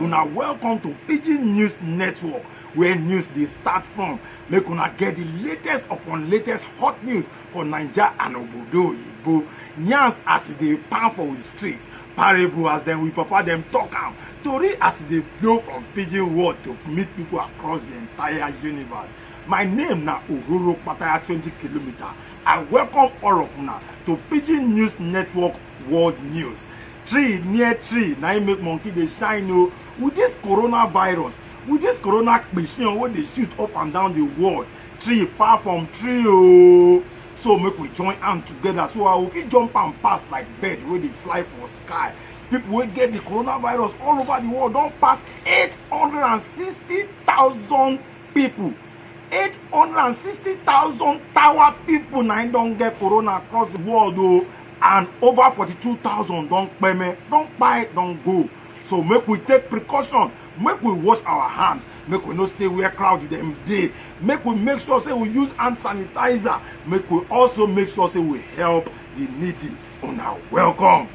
una welcome to pidgin news network where news dey start from make una get the latest upon latest hot news for naija and obodo oyibo yarns as e dey pound for we street parable as dem we papa dem talk am tori as e dey blow from pidgin world to meet people across the entire universe my name na ororo pataya twenty kilometre I welcome all of una to Pidgin News Network World News. Tree near tree na im make monkey dey shine o. With this coronavirus, with this corona kpishin wey dey shoot up and down the world, tree far from tree o. So make we join hand together so I go fit jump am pass like bird wey dey fly for sky. People wey get the coronavirus all over the world don pass 860,000 people 860,000 tower people na don get corona across the world o oh, and over 42,000 don peme don buy don go so make we take precaution make we wash our hands make we no stay where crowd dem dey make we make sure say we use hand sanitizer make we also make sure say we help the needy una welcome.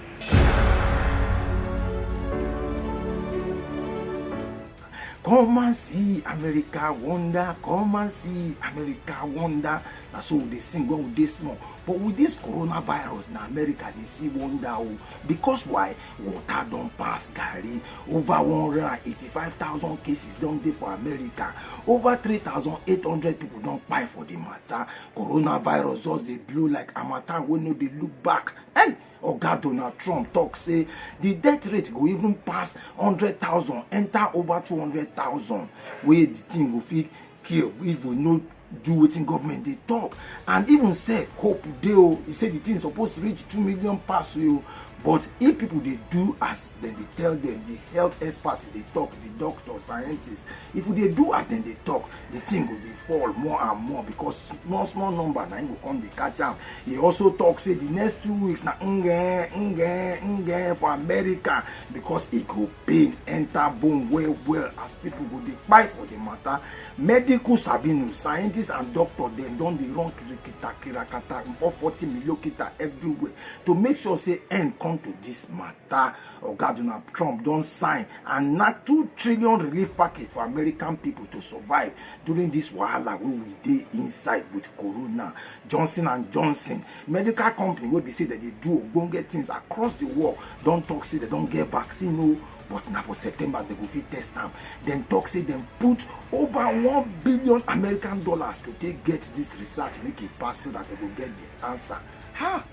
come and see america wonder come and see america wonder na so we dey sing when we dey small but with this coronavirus na america dey see wonder o oh. because why water don pass garri over one hundred and eighty-five thousand cases don dey for america over three thousand eight hundred people don kpai for the matter coronavirus just dey blow like harmattan wey no dey look back hey Oga Donald Trump tok say di death rate go even pass one hundred thousand enta over two hundred thousand wey di tin go fit kill if we no do wetin government dey tok and even sef hope dey o e say di tin suppose reach two million pass o but if pipo dey do as dem dey tell dem di health experts dey tok di doctors scientists if we dey do as dem dey tok the thing go dey fall more and more because small small number na im go come dey catch am he also talk say the next two weeks na nge nge nge for america because e go pain enter bone well well as people go dey kpai for the matter medical sabinu scientists and doctor dem don dey run kirikita kirakata for forty million kita everywhere to make sure say end come to this matter Oga Donald Trump don sign and na two trillion relief package for American people to survive during this wahala wey we dey inside with corona. Johnson and Johnson medical company wey be say dem dey do ogbonge things across the world don talk say dem don get vaccine o but na for September dem go fit test am. Dem talk say dem put over one billion American dollars to take get this research make e pass so that dem go get the answer. Ha!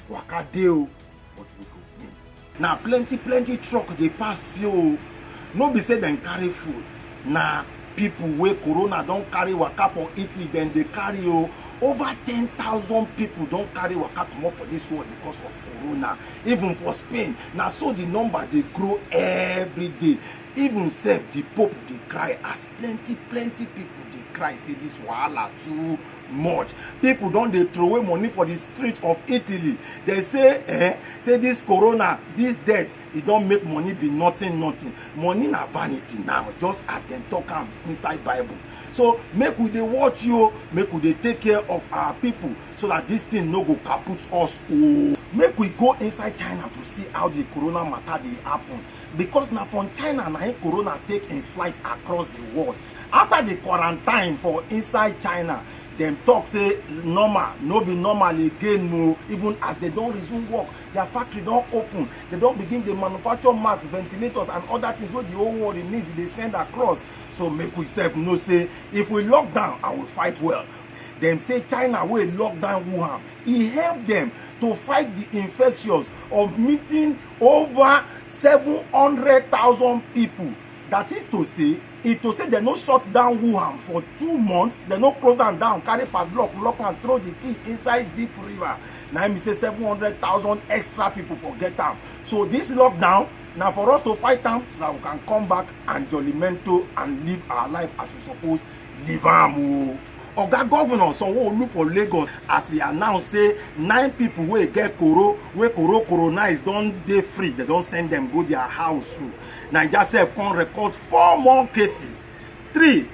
Waka dey o. but we go win na plenty plenty truck dey pass yo no be say dem carry food na people wey corona don carry waka for italy dem dey carry o over ten thousand people don carry waka comot for this world because of corona even for spain na so the number dey grow every day even sef the pope dey cry as plenty plenty people dey cry say this wahala too much people don dey throway money for the street of italy dem say eh say this corona this death e don make money be nothing nothing money na vanity now just as dem talk am inside bible so make we dey watch you make we dey take care of our people so that this thing no go kaput us ooo make we go inside china to see how the corona matter dey happen because na from china na im corona take im flight across di world afta di quarantine for inside china dem tok say normal no be normal again o oh. even as dem don resume work their factory don open dem don begin dey manufacture masks ventilators and other things wey the whole world dey need dey send across so make we sef know say if we lock down i will fight well dem say china wey lock down wuhan e help dem to fight the infections of meeting over seven hundred thousand people that is to say e to say dem no shut down wuhan for two months dem no close am down carry padlock lock am throw the key inside deep river na im be say seven hundred thousand extra people for get am so this lockdown na for us to fight am so that we can come back and jollimento and live our life as we suppose leave am o oga governor sanwo-olu for lagos as e announce say nine pipo wey get koro wey koro coronize don dey free dem don send dem go dia house o naija sef come record four more cases three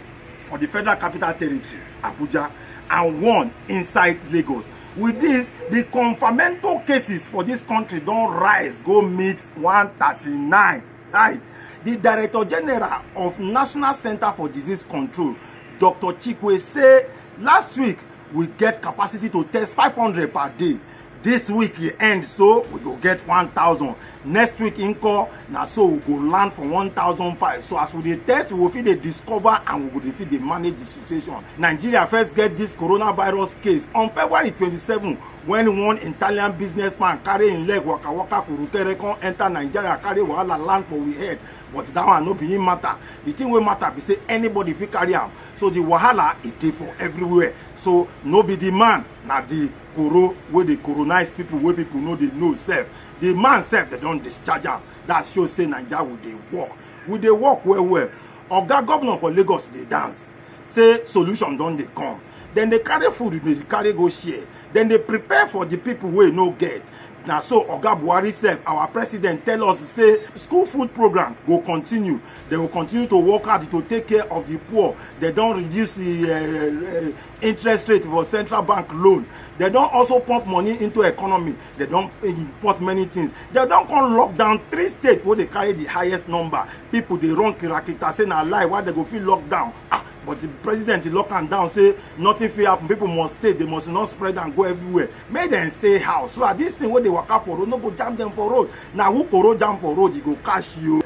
for di federal capital territory abuja and one inside lagos with dis di confamento cases for dis kontri don rise go meet one thirty nine. Hi, the Director General of National Center for Disease Control, Dr. Chikwe, say last week we get capacity to test 500 per day. This week e end so we go get 1000. Next week nko na so we go land for 1005. So as we dey test, we go fit dey discover and we go dey fit dey manage the situation. Nigeria first get this coronavirus case on February 27 when one italian businessman carry im leg waka waka kurukere come enter nigeria carry wahala land for we head but that one no be im matter the thing wey matter be say anybody fit carry am so the wahala e dey for everywhere so no be the man na the koro wey dey coronize people wey people no dey know sef the man sef dem don discharge am that show say naija we dey work we dey work well well oga governor for lagos dey dance. say solution don dey come dem dey carry food dey carry go share dem dey prepare for the people wey no get na so oga buhari sef our president tell us say school food program go continue they will continue to work hard to take care of the poor they don reduce the uh, uh, interest rate for central bank loan they don also pump money into economy They don't import many things. They don't come lock down three states where they carry the highest number. People they run kirakita say na lie why they go feel locked down. Ah, but the president he lock am down say nothing fit happen. People must stay. They must not spread and go everywhere. Make them stay house. So at this thing where they walk up for road, no go jam them for road. Now who go road jam for road, he go catch you.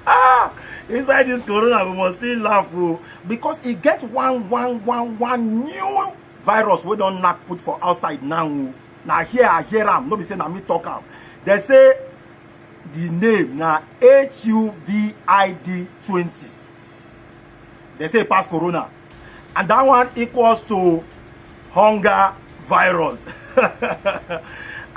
ah, inside this corona we must still laugh o oh. because e get one one one one new virus wey don knack put for outside now o na here i hear am no be say na me talk am dem say the name na HUVID20 dem say e pass corona and that one equals to hunger virus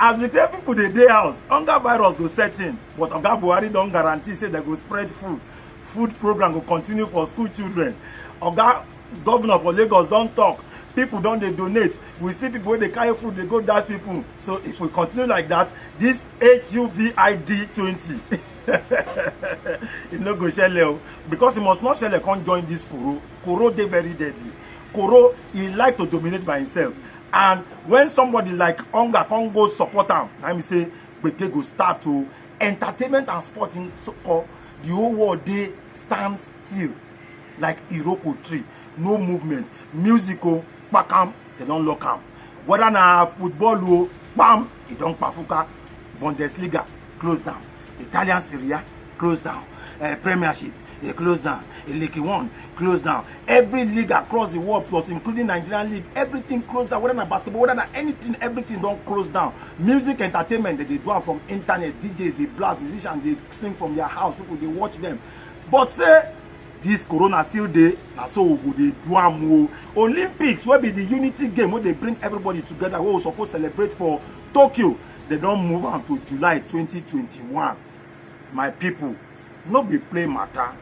as we tell people dey dey house hunger virus go set in but oga buhari don guarantee say dem go spread food food program go continue for school children oga governor for lagos don talk people don dey donate we see people wey dey carry food dey go dash people so if we continue like that this huvid twenty e no go shele o because e must not shele come join this koro koro dey very deadly koro e like to dominate by himself and when somebody like hunger come go support am na me say gbege go start to entertainment and sporting so called the whole world dey stand still like iroko tree no movement music o kpakam they don lock am whether na football o kpam e don kpafuka bundesliga close down italian serie a close down uh, premiership e close down e league one close down every league across the world plus including nigerian league everything close down whether na basketball whether na anything everything don close down music entertainment dem dey do am from internet djs dey blast musicians dey sing from their house people dey watch them but say This corona still dey na so we go dey do am o olympics wey be the unity game wey dey bring everybody together wey we suppose celebrate for tokyo dem don move am to july 2021 my people no be play matter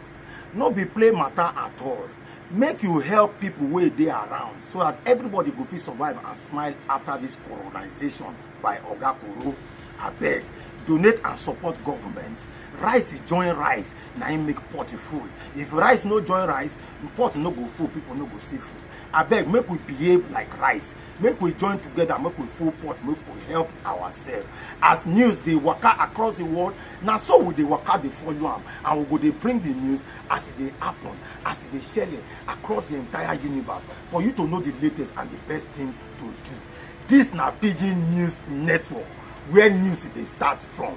no be play matter at all make you help people wey dey around so that everybody go fit survive and smile after this colonization by oga koro abeg donate and support government rice join rice na im make pot full if rice no join rice pot no go full people no go see food abeg make we behave like rice make we join together make we full pot make we help ourselves as news dey waka across the world na so we dey waka dey follow am and we go dey bring the news as e dey happen as e dey shele across the entire universe for you to know the latest and the best thing to do this na pidgin news network where news dey start from.